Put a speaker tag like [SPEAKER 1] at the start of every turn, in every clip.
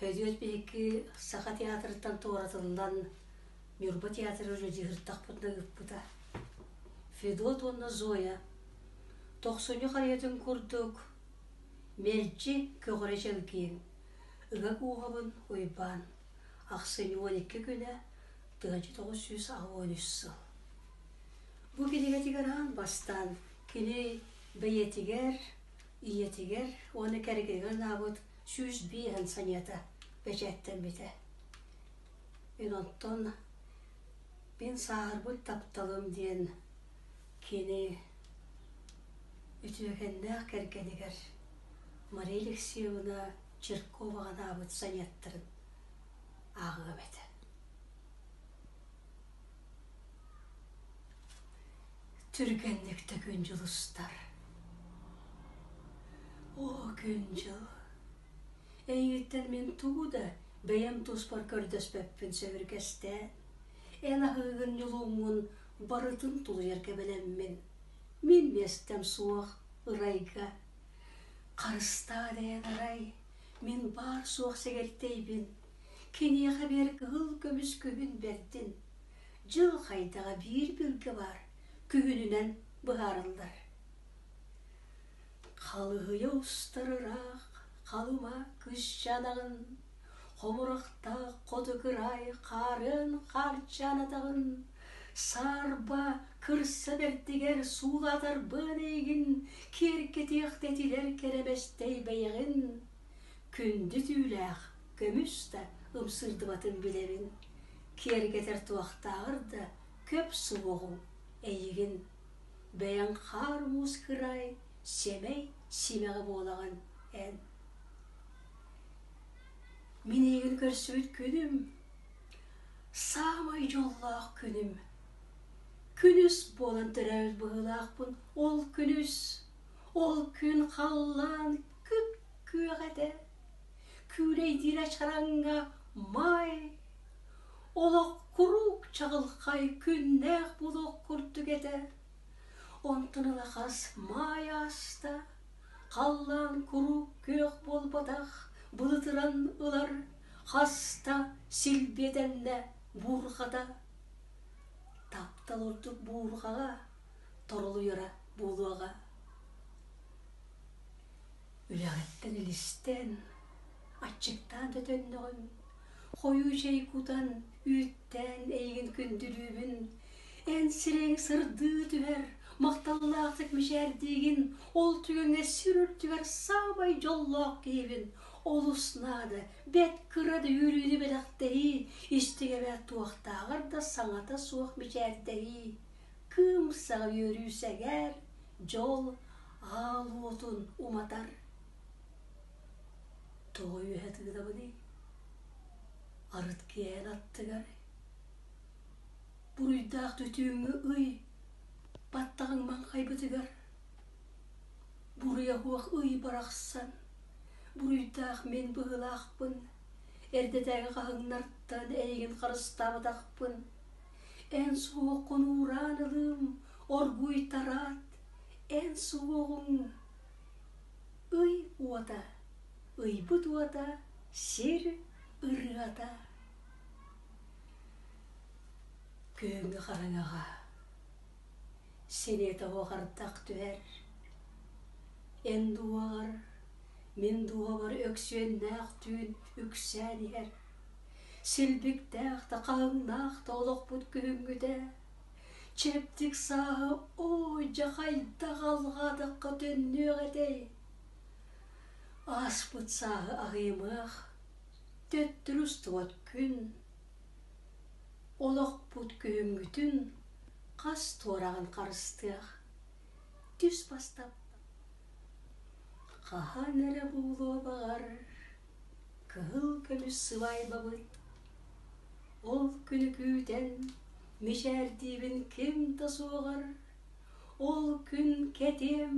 [SPEAKER 1] Өдүөт биһиги Саха театрыттан туоратыллан Ньурба театрын режиссертахпытына ыыппыта. Федот уонна Зоя тохсунньу харыйатын курдук мэлдьи көҕүрэ чэлгиин, ыга кууһабын Уйбаан, ахсынньы уон икки күнэ тыһыынча тоҕус сүүс аҕа уон үс сыл. Бу кинигэтигэр аан бастаан кини бэйэтигэр ийэтигэр уонна кэргэнигэр ылаабыт сүүс биэһин саньыата бэчээттэммитэ. Мин оттон мин сааһырбыт тапталым диэн кини үтүөкэннээх кэргэнигэр Мария Алексеевна Черкова анаабыт саньыаттарын ааҕыам этэ. Түргэнник да күн дьулустар. Оо күн-дьыл, эйииттэн мин тугу да бэйэм туспар көрдөспөппүн сөбүргэстээн, эн аһыыгын ньулууммун барытын тулуйарга бэлэммин. Мин миэстэм суох ырайга. Харыстаа дээн арай, мин баар-суох сэгэртэйбин Киниэхэ бэр кыһыл көмүс күһүн бэрдин. Дьыл хайдаҕа биир билгэ баар күһүнүнэн быһаарыллар. Халыһыйа устар ыраах халыма кыш жанаҕын, хомурахтаах хоту кыраай хаарын харчаан атаҕын, саарба кырса бэрдигэр суулатарбын эйгин, киэркэтиэх тэтилэр кэрэмэстэй бэйэҕин, Күндү түүлээх көмүс да ымсыырдыбатын билэбин, киэргэтэр туохтааҕар да көп суоҕуҥ эйигин, бэйэҥ хаар муус кыраай сэмэй симэҕи буолаҕын эн. Мин эйигин көрсүбүт күнүм, саамай дьоллоох күнүм. Күнүс буолан төрөөбүт быһыылаахпын ол күнүс, ол күн халлаан Кып-күөх этэ, күүлэйдиир ачараҥҥа май, олох куруук чаҕылхай күннээх буолуох курдук этэ. Онтон ыла хас маай ааста, халлаан куруук күөх буолбатах былытыран ылар, хаста силбиэтэннэ буурҕата. Таптал ордук буурҕаҕа. торолуйара буолуоҕа үлэҕиттэн илистэн аччыктаан да төннөҕүм хойуу чэй кутан үүттээн эйигин күндүлүүбүн эн сирэҥ сырдыы түһэр махталлаахтык мичээрдиигин ол түгэҥҥэ сир үрдүгэр саамай дьоллоох киһибин олус наада бэт кыра да үөрүүнү бэлэхтэрии истигэбэ туохтааҕар да саҥата суох мичээрдэрии Кыым саҥа үөрүү сэгээр, дьол аал уотун уматар. Тоҕо үөһэ тыынабыный? Арыт киэһэн аттыгар. Буруйдаах түтүүҥҥү ый баттаҕыҥ маҥхайбытыгар. Буруйа уох ый барахсан, буруйдаах мин быһыылаахпын, эрдэтээҥи хаһыҥнартан эйигин харыстаабатахпын, Эн суох хонуураан ылыым, оргууйтараат, эн суоҕуҥ ый уота, ыйбыт уота, сир ырыата. Күһүҥҥү хараҥаҕа сириэтэ оҕо хардах түһэр. Эн дууҕаҕар, мин дууһабар Өксүөннээх түүн үксээн иһэр. Силбиктээх да хааннаах да олохпут күһүҥҥүтэ чэбдик сааһы оо-дьа хайдах алҕаатахха төннүөх этэй ааспыт сааһы аҕыйымыах төттөрү-устубат күн олохпут күһүҥҥүтүн хас туораҕын харыстыах түс бастап хаһан эрэ буолуо баҕар Кыһыл көмүс сыбаайбабыт Ол күнү күүтэн мичээрдиибин ким да суоҕар Ол күн кэтиэм,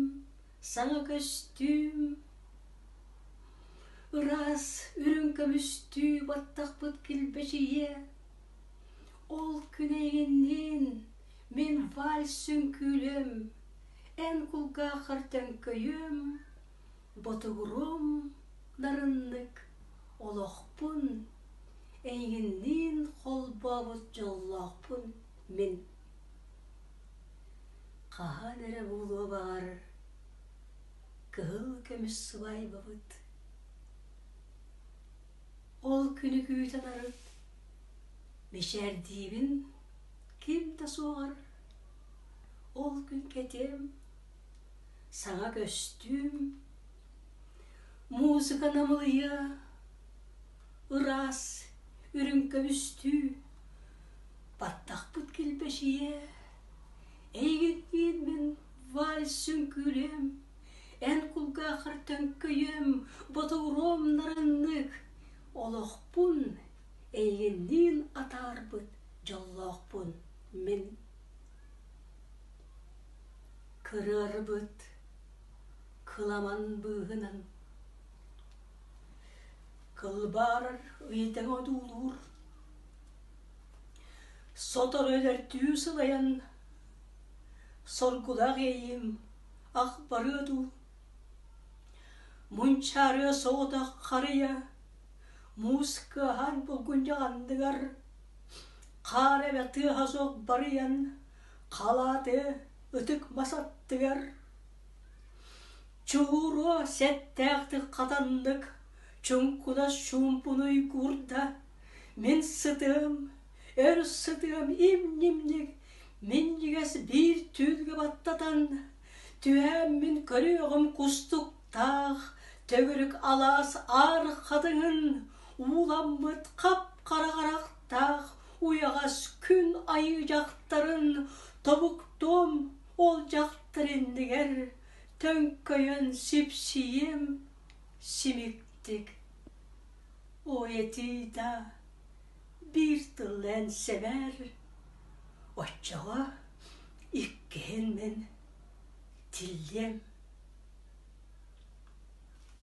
[SPEAKER 1] саҥа көстүүм Ыраас үрүҥ көмүстүү баттахпыт килбэчийиэ Ол күн эйинниин мин вальс үҥкүүлүөм Эн кулгаахар төҥкөйүөм Ботугурум нарыннык олохпун, эйигинниин холбообут дьоллоохпун мин. Хаһан эрэ буолуо баҕарар кыһыл көмүс сыбаайбабыт. Ол күнү күүтэн арыт мичээрдиибин ким да суоҕар ол күн кэтиэм саҥа көстүүм, музыка намылыйа, ыраас үрүҥ көбүстүү, баттахпыт килбэчийэ, эйигин киирмин вальс сүҥкүүлүөм, эн кулгаахар төҥкөйүөм, ботугуруом нараннык, олохпун эйигинниин атаарбыт дьоллоохпун мин. кырыарбыт кыламан быыһынан кылбаарар ыйытыҥ одуулуур сотору өлөртүү сылайан соргулаах эйиим ах барыа дуу мунчаарыа соҕотох харыйа мууска аһар булгунньах андыгар хаар эбэ тыаһа суох барыйан Халааты ытык мас аттыгар чугуруо сэттээхтик хатаннык чуҥкунас чуумпунуй куурда мин сытыам өр сытыам им-ньимник минньигэс биир түүлгэ баттатан түһээн мин көрүөҕүм кустуктаах төгүрүк алаас аар хатыҥын ууламмыт хап-хара харах таах уйаҕас күн айыы дьахтарын тобуктуом ол дьахтар иннигэр төҥкөйөн сипсийиэм симиктик о этии да биир тылы эн сэбэр оччоҕо иккиһин мин тиллиэм